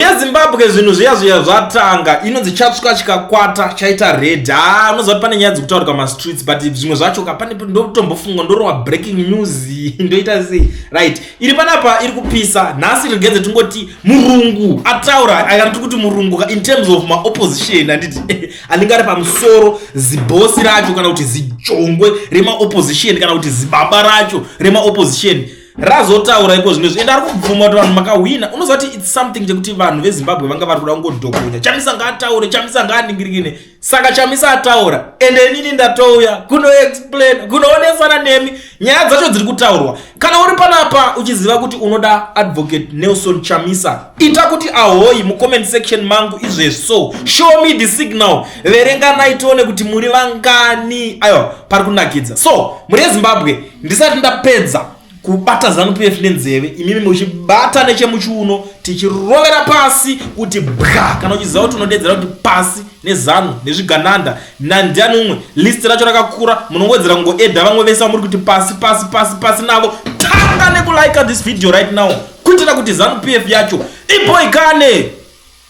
yezimbabwe zvinhu zviya zviya zvatanga ino dzichatsvuka chikakwata chaita red ha ah, unoziva kuti pane nyaya dzekutaurika mastreets but zvimwe zvacho ka pane ndotombofunga ndorowa breaking news ndoita sei right iri panapa iri kupisa nhasi rigenze tingoti murungu ataura akanti kuti murungu ka in terms of maopposition handiti anenge ari pamusoro zibosi racho kana kuti zijongwe remaopposition kana kuti zibaba racho remaopposition razotaura iko zvino zvienda ari kubvuma kuti vanhu makahwina unoziva kuti its something chekuti vanhu vezimbabwe vanga vari kuda kungodhokonya chamisa ngaataure chamisa ngaaningirikine saka chamisa ataura ende inini ndatouya kunoexplain kunoonesana nemi nyaya dzacho dziri kutaurwa kana uri panapa uchiziva kuti unoda advocate nelson chamisa ita kuti ahoyi mucomment section mangu izvezvi so show me the signal verenganai tione kuti muri vangani aiwa pari kunakidza so muri yezimbabwe ndisati ndapedza kubata zanupf nenzeve imimi muchibata nechemuchiuno tichirovera pasi kuti bwa kana uchiziva kuti unodeedzera kuti pasi nezanu nezvigananda nandiani umwe list racho rakakura munongowedzera kungoedha vamwe vese vamuri kuti pasi pasi pasi pasi navo tanga nekulika this video right now kuitira kuti zanupf yacho iboikane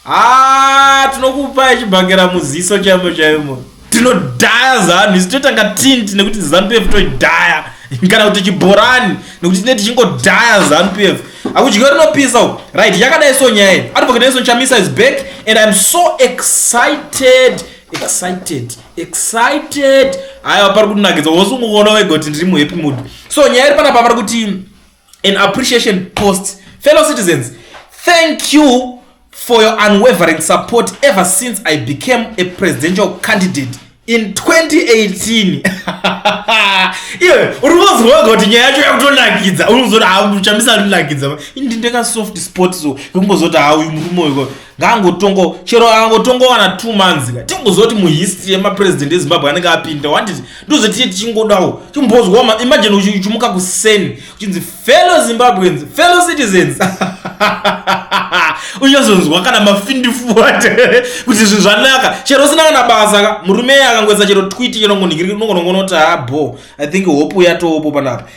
haa tinokupai chibhakera muziso chaimo chaimo tinodhaya zanhu isu toitanga tint nekuti zanu pf toidhaya kana kuti chibhorani nekuti tine tichingodhaya zanu pf akudyiwa rinopisa u right yakadai so nyaya iyi advocateison chamisa is back and iam so excited excited excited haiwa pari kutinakidza wose ungoona wega kuti ndiri muhappy mood so nyaya iri panapa pari kuti an appreciation post fellow citizens thank you for your unwavering support ever since i became a presidential candidate in 2018 iwe uri kuzorwa kuti nyaya yacho yakutonakidza unozoti hauchamisa ndinakidza ndindeka soft sport so kungozoti hauyu murume uyu ngaangotongo chero akangotongowana two months ka tingozoti muhistory yemapresident ezimbabwe anenge apinda wanditi ndozotiye tichingodawo chimbozwa imagine uchimuka kuseni uchinzi fellow zimbabweans fellow citizens unyazonzwa kana mafindifuat kuti zvinhu zvanaka chero usina kana basa ka murume akangoisa chero twiti chenongonongonoti habo ah, i think hope uyatowopo panapa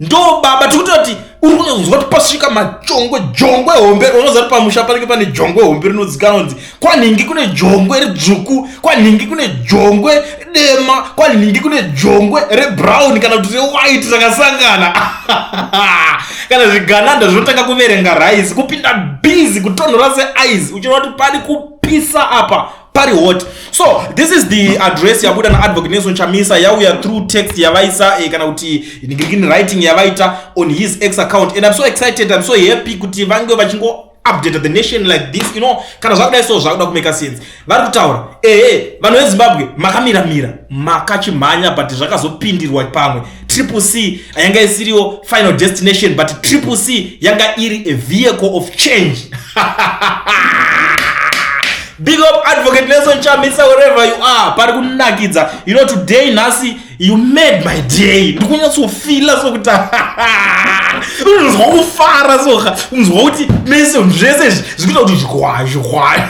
ndo baba tikutoti uri kunonzwa kuti pasvika majongwe jongwe hombe unoziva kuti pamusha panenge pane jongwe hombe rinodzikana kunzi kwanhingi kune jongwe redzvuku kwanhingi kune jongwe dema kwanhingi kune jongwe rebrown kana kuti rewhite rakasangana kana zvigananda zvinotanga kuverenga rice kupinda bizi kutonhora seice uchiona kuti pari kupisa apa pari hot so this is the address yabuda naadvocate nelson chamisa yauya through text yavaisa eh, kana kuti in writing yavaita on his ex account and i'm so excited i'm so happy kuti vange vachingo update the nation like this you know kana zvakudai so zvakuda kumeka sense vari kutaura ehe vanhu vezimbabwe makamiramira makachimhanya but zvakazopindirwa pamwe triple c yanga isiriwo final destination but triple c yanga iri a vehicle of change big up advocate nelson chamisa wherever you are pari kunakidza you know today nhasi you made my day ndikunyatsofila sokuti unonzwa kufara soka unonzwa kuti mese zvese zvikuita kuti zvigwazvigwazvi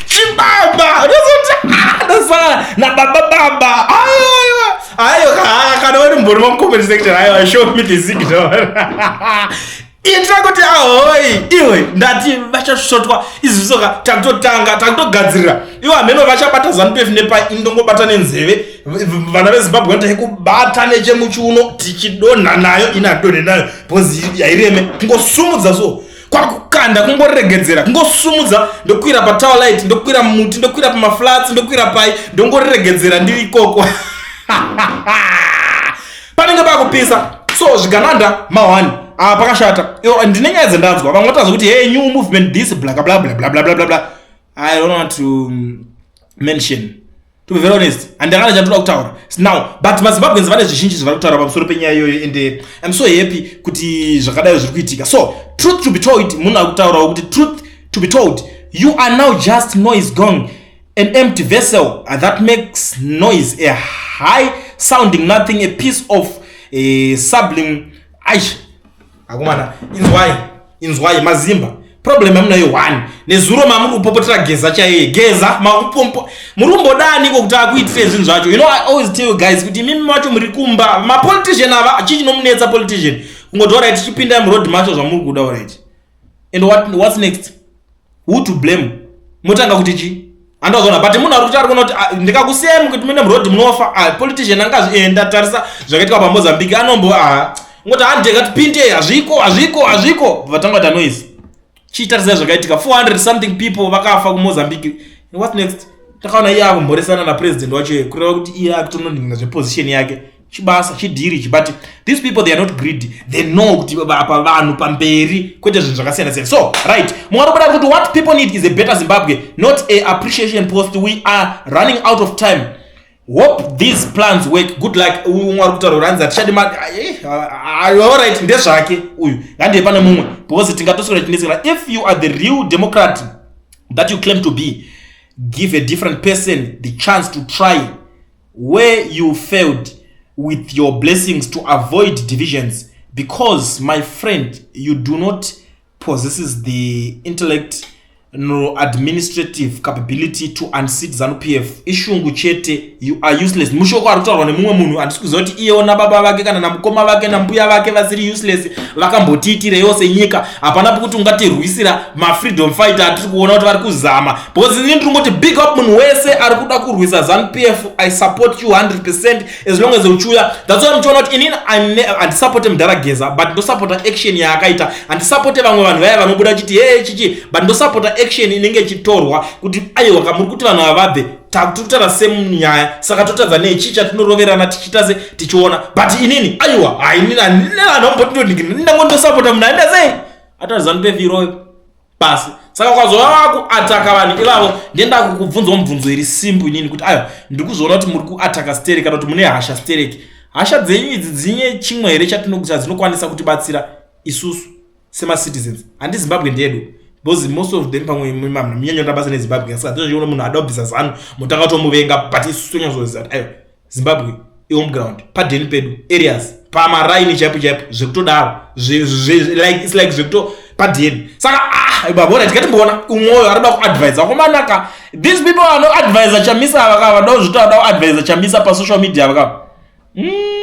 chibaba ndozotadasana nababa baba ayoyo ayo kana uri mbori wamcomment section ayo show me the signal itira kuti ahoi iwe ndati vachasvotwa izvisoka takutotanga takutogadzirira iwe hameno vachabata zanupf nepai ndongobata nenzeve vana vezimbabwe vanotai kubata nechemuchiuno tichidonha nayo inadonhe nayo bhozi yaireme kungosumudza so kwakukanda kungoregedzera kungosumudza ndokwira patower light ndokwira muti ndokwira pamaflats ndokwira pai ndongoregedzera ndiri ikoko panenge pakupisa so zvigananda mahwani ah, pakashata ndine nyaya dzendanzwa vamwe vataza kuti hey new movement this blakablablablablablabla i don't want to mention to be very honest handakana chandoda kutaura now but mazimbabweans vane zvizhinji zvavari kutaura pamusoro penyaya iyoyo and eh, im so happy kuti zvakadai zviri kuitika so truth to be told munhu ari kutaurawo kuti truth to be told you are now just noise gong an empty vessel uh, that makes noise a high sounding nothing a piece of a eh, sublim aish akomana inzwai inzwai mazimba problem yamunayo one nezuro mamuri kupopotera geza chaiye geza makupompo muri kumbodaniko kuti akuitire zvinhu zvacho you know i always tell you guys kuti imimi macho muri kumba mapolitician ava chii chinomunetsa politician kungoti orit tichipinda muroad macho zvamuri kuda orit and what, what's next who to blame motanga kuti chii andozoona but munhu ari kuti ari kuona kuti ah, ndikakusiyai mukuti mune muroad munofa ah, politician anga azvienda eh, tarisa zvakaitika pamozambique anombo ah, ngoti handi ngatipinde hazviko hazviko hazviko vatanga kuita noise chiitarisai zvakaitika 400 something people vakafa kumozambique what next takaona iye akumhoresana napresident wacho kureva kuti iye akutononhinga zveposition yake chibasa chidhiri ichi but these people they are not greedy they know kuti vapa vanhu pamberi kwete zvinhu zvakasiyana siyana so right mungatobuda kuti what people need is a better zimbabwe not a appreciation post we are running out of time hope these plans work good luck umwe ari kutaura kuti hanzi hatichadi ma eh, allright ndezvake uyu ngandiye pane mumwe because tingatoswera tinesekana if you are the real democrat that you claim to be give a different person the chance to try where you failed with your blessings to avoid divisions because my friend you do not possesses the intellect no administrative capability to unseat zanu p f ishungu chete you are useless mushoko ari kutaurwa nemumwe munhu handisi kuziva kuti iyewo nababa vake kana namukoma vake nambuya vake vasiri useless vakambotiitirewo senyika hapana pokuti ungatirwisira mafreedom fighter atiri kuona kuti vari kuzama because ini ndiri ngoti big up munhu wese ari kuda kurwisa zanupf i support you 100 percent as long as uchiuya that's why muchiona kuti inini handisupporte mudhara geza but ndosupporta action yaakaita handisupporte vamwe vanhu vaya vanobuda chiti hee chichi but ndosupporta action inenge ichitorwa kuti aiwa ka muri kuti vanhu ava vabve takutotara semunyaya saka totadza nechi chatinoroverana tichiita se tichiona but inini aiwa hainini handina vanhu vambotindondindango ndosupporta munhu aenda sei atazanupf iroyo pasi saka ukazova vakuataka vanhu ivavo ndenda kukubvunzawo mubvunzo iri simbu inini kuti ayo ndiri kuzoona kuti muri kuataka stereki kana kuti mune hasha stereki hasha dzenyu idzi dzinye chimwe here chatinokuti hadzinokwanisa kutibatsira isusu semacitizens handi zimbabwe ndedu because most of them pamwe mamna munyanya kuti abasa nezimbabwe asi hatizviona munhu adobvisa zanu mutanga tomuvenga but isusu tonyazoziva kuti ayo zimbabwe ihome ground padeni pedu areas pamaraini chaipo chaipo zvekutodaro like its like zvekuto padeni saka ah ibabona tikatimboona umwoyo arikuda kuadvise akomanaka these people vanoadvise chamisa avakava vadawo zvito vadawo advise chamisa pasoshal media avakava mm.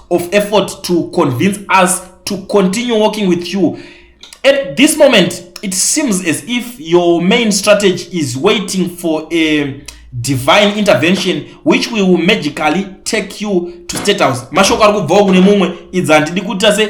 of effort to convince us to continue working with you at this moment it seems as if your main strategy is waiting for a divine intervention which we will magically take you to state house mashoko ari kubvawo kune mumwe idzi handidi kuita se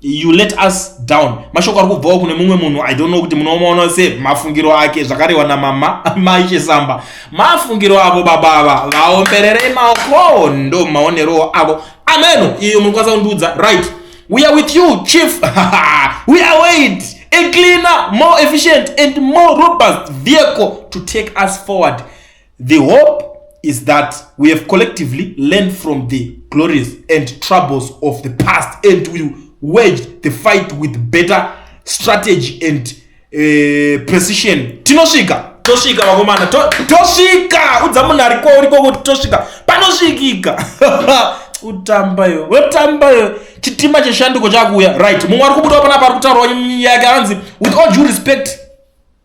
you let us down mashoko ari kubvawo kune mumwe munhu i don't know kuti munomaona se mafungiro ake zvakarehwa namama maishe samba mafungiro avo baba ava vaombererei maoko ndo maonerowo avo ameno iyo munokwanisa kundiudza right we are with you chief we are wait a cleaner more efficient and more robust vehicle to take us forward The hope is that we have collectively learned from the glories and troubles of the past and will wage the fight with better strategy and uh, precision tinosvika tosvika vakomana tosvika udza munhu ari kwauri kwokuti tosvika panosvikika kutamba yo wetamba yo chitima cheshanduko chakuuya right mumwe ari kubudawo panapa ari kutaurwa nyaya yake anzi with all due respect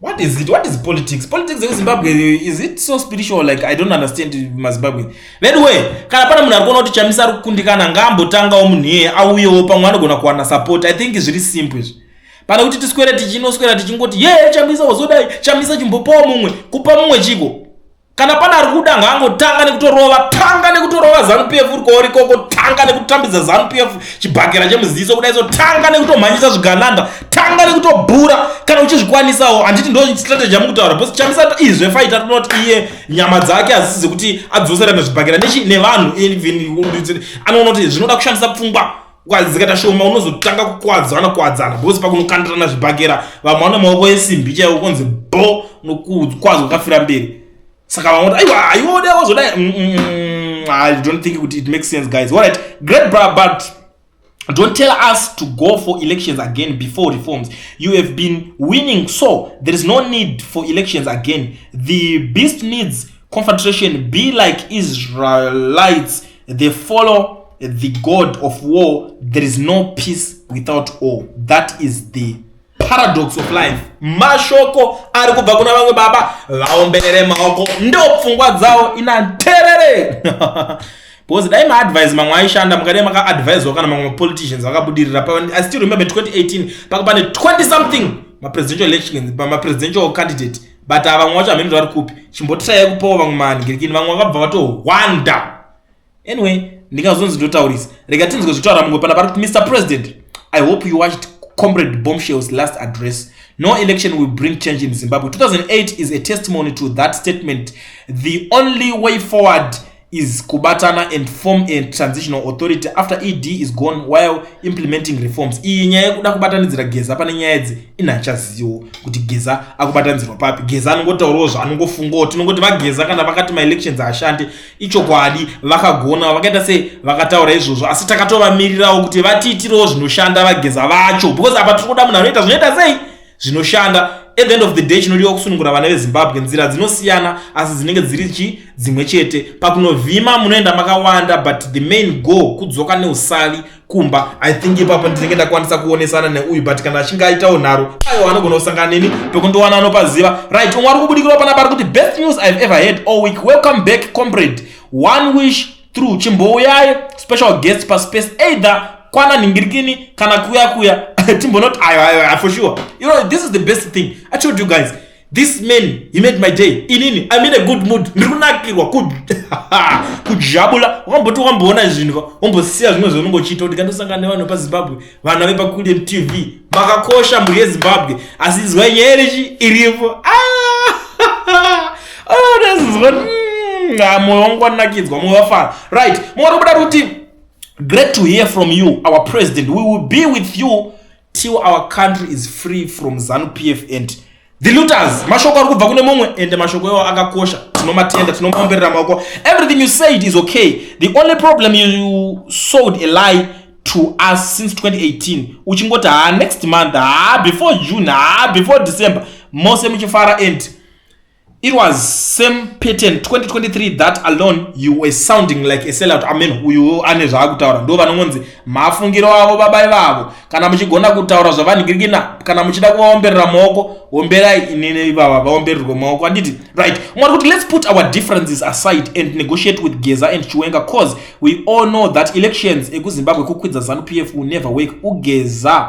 what is it what is politics politics yekuzimbabwe is it so spiritual like i don't understand mazimbabwe veduwe kana pane munhu ari kuona kuti chamisa ari kukundikana ngaambotangawo munhu iyeye auyewo pamwe anogona kuwana support i think zviri simple izvi pane kuti tiswere tichinoswera tichingoti ye chamisa wazodai chamisa chimbopawo mumwe kupa mumwe chiko kana pana ari kuda ngaangotanga nekutorova tanga nekutorova zanu p f uri kwauri koko tanga nekutambidza zanu p f chibhakera chemuziso kudai so tanga nekutomhanyisa zvigananda tanga nekutobhura kana uchizvikwanisawo handiti ndo strategy yamukutaura bcause chamisa izve faita rinoti iye nyama dzake hadzisi dzekuti adzoserana zvibhakera nechi nevanhu anoona kuti zvinoda kushandisa pfungwa ukadzikata shoma unozotanga kukwadzana kwadzana because pakunokandirana zvibhakera vamwe vane maoko esimbi chaiwo konzi bo nokukwadzwa kafira mberi saka vamwe kuti aiwa aiode wazodai mm, mm, mm, i don't think kuti it makes sense guys alright great bra but don't tell us to go for elections again before reforms you have been winning so there is no need for elections again the beast needs confederation be like israelites they follow the god of war there is no peace without all that is the paradox of life mashoko ari kubva kuna vamwe baba vaomberere maoko ndo pfungwa dzawo ina nterere because dai maadvise mamwe aishanda mukadai makaadvisewa kana mamwe mapoliticians akabudirira i still remember 2018 paka pane 20 something mapresidential elections pamapresidential candidate but ava vamwe vacho hameno zvavari kupi chimbotirai kupawo vamwe mahandirikini vamwe vakabva vatohwanda anyway ndingazonzi ndotaurisa rega tinzwe zvitaura mumwe pana pari kuti mr president i hope you watched comrade bombshells last address no election will bring change in zimbabwe 2008 is a testimony to that statement the only way forward is kubatana and form a transitional authority after ed is gone while implementing reforms iyi nyaya yekuda kubatanidzira geza pane nyaya idzi inhachaziwo kuti geza akubatanidzirwa papi geza anongotaurawo zvaanongofungawo tinongoti vageza kana vakati maelections ashande ichokwadi vakagona vakaita se vakataura izvozvo asi takatovamirirawo kuti vatiitirawo zvinoshanda vageza vacho because apa tiri kuda munhu anoita zvinoita sei zvinoshanda at the end of the day chinodiwa kusunungura vana vezimbabwe nzira dzinosiyana asi dzinenge dziri chi dzimwe chete pakunovhima munoenda makawanda but the main goal kudzoka neusavi kumba i think ipapo ndinenge ndakwanisa kuonesana neuyu but kana achinge aitawo nharo aiwa anogona kusangana neni pekundiwana anopaziva right umwe ari kubudikirwa panapa ari kuti best news ive ever had all week welcome back comrade one wish true chimbouyai special guest paspace either kwana nhingirikini kana kuya kuya timbonoti ayo ayo ayo for sure you know this is the best thing i told you guys this man he made my day inini i mean a good mood ndiri kunakirwa kujabula wakamboti wakamboona zvinhu wambosiya zvimwe zvaunenge uchiita kuti kandosangana nevanhu pazimbabwe vana vepakulien tv makakosha mhuri yezimbabwe asi nzwai nyaya yerechi iripo ah! aonezinzwa ah, mm, ah, moyo wangu wanakidzwa moyo wafara right mwana kuda kuti great to hear from you our president we will be with you till our country is free from zanu pf and The looters, mashoko ari kubva kune mumwe ende mashoko iwo akakosha tinomatenda tinomaomberera maoko everything you said is okay the only problem you sold a lie to us since 2018 uchingoti haa next month haa before june haa before december mose muchifara and It was same pattern 2023 that alone you were sounding like a sellout. Amen. Uyu ane zvaakutaura ndo vanongonzi mafungiro avo baba ivavo. Kana muchigona kutaura zvavanigirigina kana muchida kuvaomberera maoko omberai inini ivava vaombererwe maoko anditi right. Mwari kuti let's put our differences aside and negotiate with Geza and Chiwenga cause we all know that elections ekuZimbabwe kukwidza Zanu PF will never work. Ugeza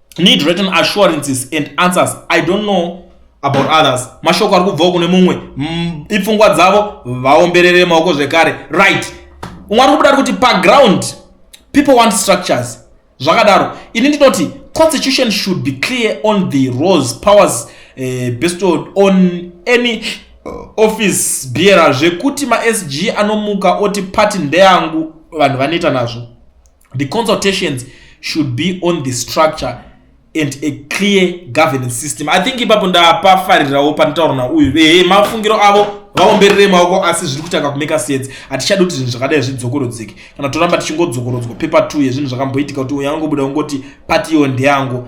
need written assurances and answers i don't know about others mashoko ari kubvawo kune mumwe mm, ipfungwa dzavo vaomberere maoko zvekare right umwe ari kubuda ari kuti paground people want structures zvakadaro ini ndinoti constitution should be clear on the rose powers uh, bestowed on any office bearer zvekuti masg anomuka oti pati ndeyangu vanhu vanoita nazvo the consultations should be on the structure and a clear governance system i think ipapo ndapafarirawo panotaura nauyu ehe mafungiro avo vaomberere maoko asi zviri kutanga kumeka sense hatichadi kuti zvinhu zvakadai zvidzokorodzeke kana toramba tichingodzokorodzwa pepa two yezvinhu zvakamboitika kuti uyangobuda ungoti pati iyo ndeyangu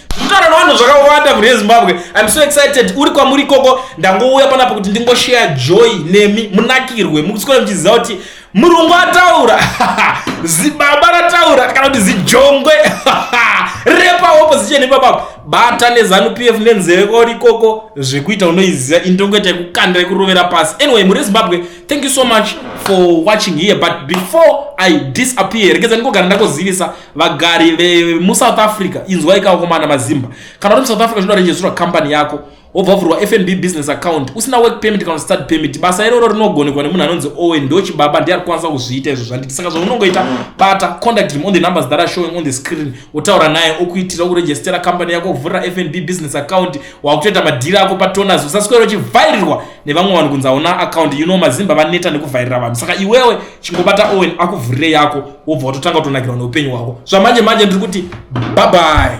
Kutaura navanhu zvakawanda mune Zimbabwe. I'm so excited. Uri kwamuri ikoko ndangouya panapa kuti ndingoshare joy nemi munakirwe. Mukusikora muchiziva kuti murungu ataura zibaba rataura kana kuti zijongwe repa opposition ipapa bata nezanu pf nenzeve kwauri ikoko zvekuita unoiziva indongoita yekukanda yekurovera pasi anyway muri zimbabwe thank you so much for watching here but before i disappear regedza ndingogara ndakuzivisa vagari vemusouth africa inzwai kaokomana mazimba kana uri musouth africa zvinoda rejistirwa kambani yako wobva vavhurwa fnb business account usina work permit kana start permit basa iroro rinogonekwa nemunhu anonzi owen ndochibaba ndiye ari kukwanisa kuzviita izvo zvanditi saka zvaunongoita bata contact him on the numbers that are showing on the screen wotaura naye okuitira kurejistera kambani yako kuvhurira fnb business account wakutoita madhiri ako patoners usaswera uchivhairirwa nevamwe vanhu kunzi hauna akaunti you know mazimba vaneta nekuvhairira vanhu saka iwewe chingobata owen akuvhurire yako wobva watotanga kutonakirwa neupenyu hwako zvamanje manje ndiri kuti bye bye